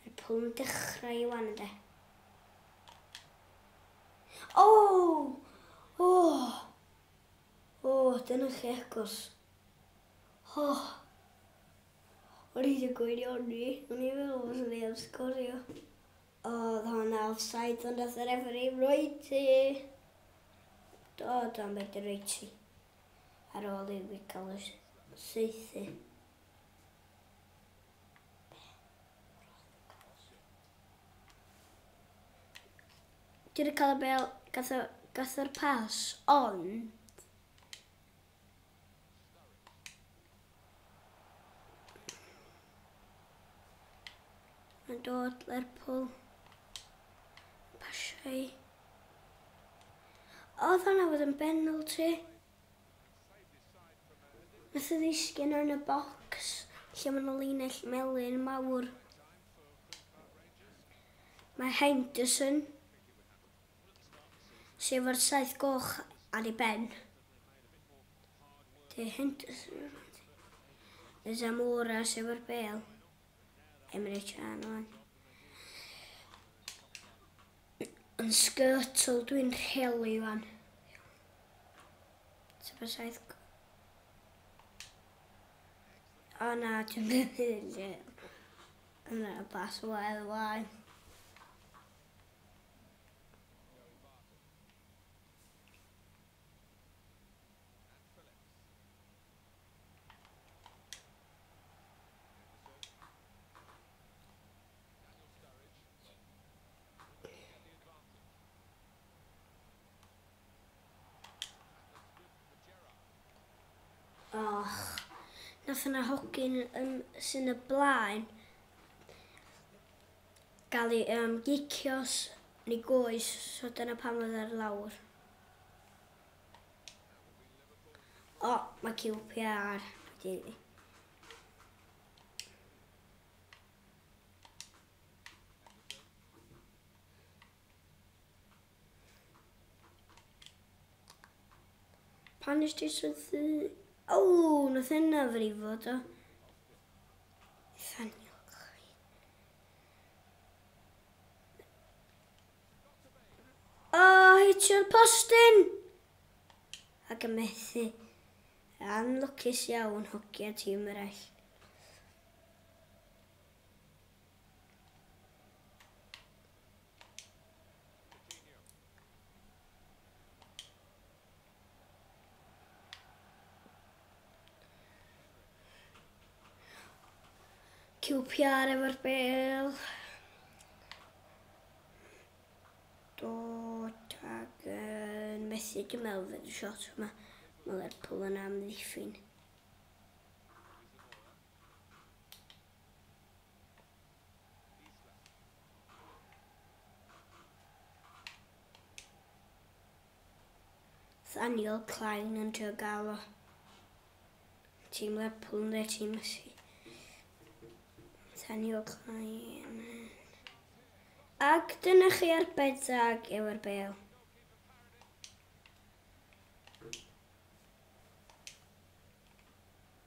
Mae Paul yn dechrau i wan ynddo. O! O! O, dyna chi agos. O! O'n i ddim gwybod iawn ni. O'n i'n meddwl fod ni am sgorio. O, oedd hwnna offside ond oedd yr efri roed ti. Do, do, am beth roed ti. Ar ôl i fi cael y seithi. Dwi wedi cael y bel, gath o, gath o'r pas, ond... Mae'n dod Lerpwl. Pasiau. Oedd hwnna fod yn benalty? Nath o ddisgyn yn y bocs lle ma' 'na linell melyn mawr. Mae Henderson, sef ar saith goch ar ei ben. Dy Henderson, y Zamora, sef ar bel. Emre Can o'n. Yn sgyrtl dwi'n rhelu wan. Ti'n fes aeth... O na, dwi'n mynd i... Yna, bas o wael wael. Och, nath yna hogyn yn sy'n y blaen gael ei um, gicios yn ei goes, so dyna pan oedd ar lawr. O, oh, mae QPR wedi Pan nes ti syddu... O, nath hynna frifo do. Thanio chi. O, hitio'r postyn! Ac yn methu. Anlwcus iawn hogia tîm eraill. QPR efo'r bel. Dod ag uh, methu dim mewn fyd y shot yma. Mae Lerpwl yn amddiffyn. Daniel Klein yn trio gael o tîm Lerpwl yn dweud tîm Messi. Daniel Klein. Ac dyna chi ar bedag efo'r bel.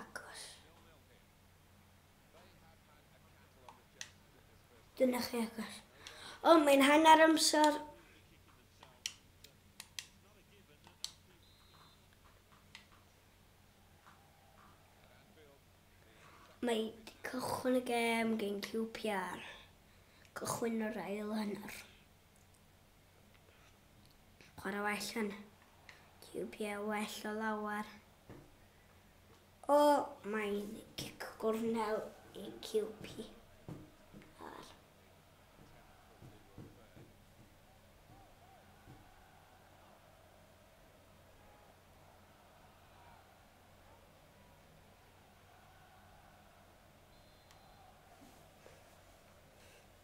agos. Dyna chi agos. O, mae'n hanner amser. Mae cychwyn y gem gen QPR. Cychwyn yr ail hanner. Chwarae well yn QPA well o lawer. O, mae'n cic gornel i QP. Ar.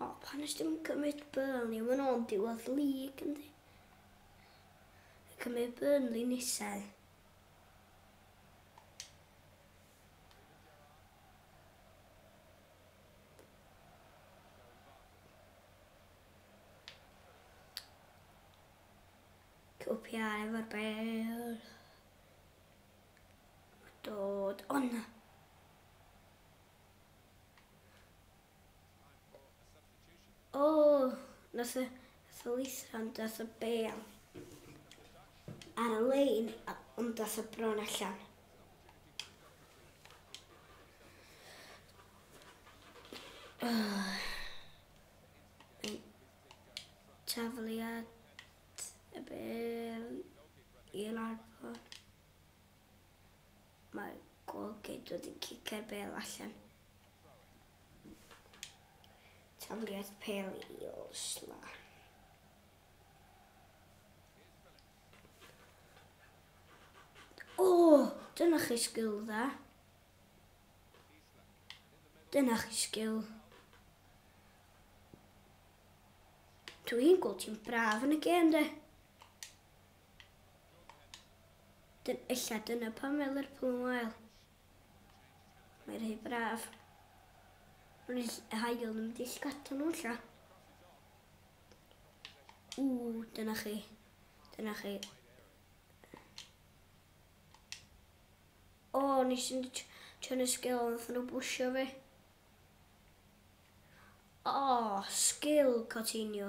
O, pan nes dim cymryd Burnley, mae'n o'n diwedd lig, yndi? Cymryd Burnley nisau. Copiar efo'r bel. Dod, o na. O, nos y ddwythan dath y bel ar y lein, ond dath y bron allan. Tafliad y bel i larfod. Mae'r golgid wedi cicio'r bêl allan. Tafliad pel i Osla. O, oh, dyna chi sgil dda. Dyna chi sgil. Dwi'n gweld ti'n braf yn y gêm, de. Dyn, illa dyna pam mae Lerpwl yn wael. Mae rhai braf. Mae'n hael yn mynd i llgata nhw lla. Ww, dyna chi. Dyna chi. O, nes i'n trio nes gael ond nath nhw bwysio fi. O, sgil Coutinho.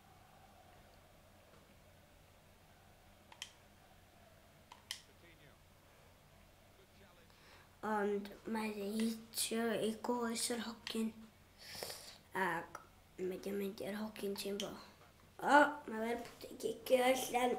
ond mae wedi hitio i goes yr hogyn ac mae wedi mynd i'r hogyn ti'n bo. O, mae fe'n gicio allan.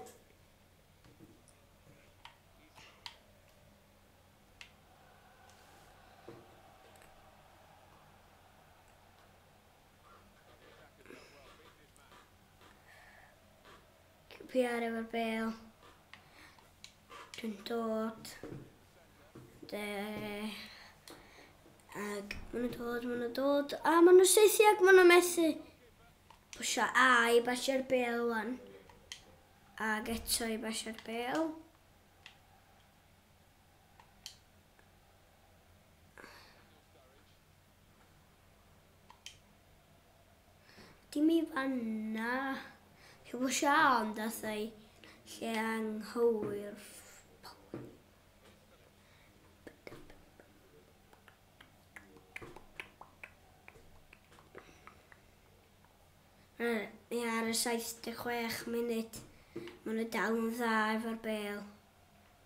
PR efo'r bel. Dwi'n dod. De. Ag maen nhw'n dod, maen nhw'n dod. A maen nhw'n seithi ac maen nhw'n methu. Pwysio A i basio'r bel wan. Ag eto i basio'r bel. Dim i fanna. Heb o sian dathau lle anghywir. Ni ar y 76 munud. Mae nhw dal yn dda efo'r bel.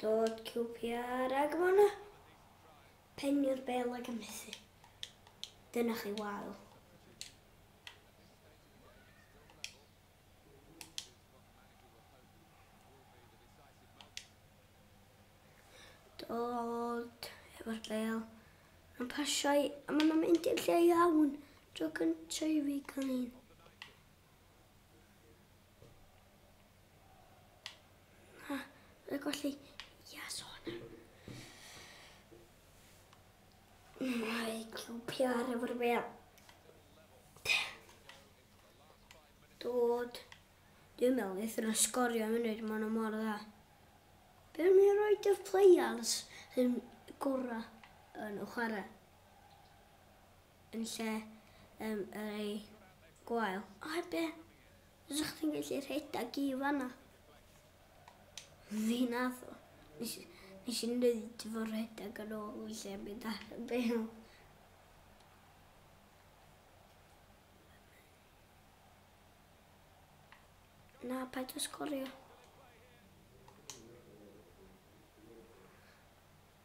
Dod QPR ag Mona. Pennu'r bel ag ymhethu. Dyna chi wael. Dod efo'r bel. Mae'n pasio i, a mae'n mynd i'r lle iawn. Tro cyntaf i fi cael un. y golli. Yes, on. Mae QPR efo'r fel. Dod. Dwi'n meddwl wnaeth nhw sgorio munud, maen nhw mor dda. Be am ni roi y players sy'n gorau yn y chwarae? yn lle um, yr ei gwael. O ebe, rydych chi'n gallu rhedeg i fanna. Fi nath o. Nes, nes i wneud fy rhedeg yn ôl i lle mynd ar y bel. Na, paid o sgorio.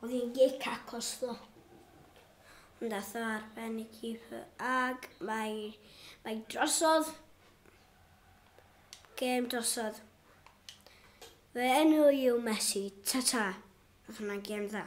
Oedd hi'n gic acos ddo. Ond ath o ar ben y keeper ag mae, mae drosodd. Gêm drosodd. Fy enw i yw Messi. Ta-ta. Oedd hwnna'n gêm dda.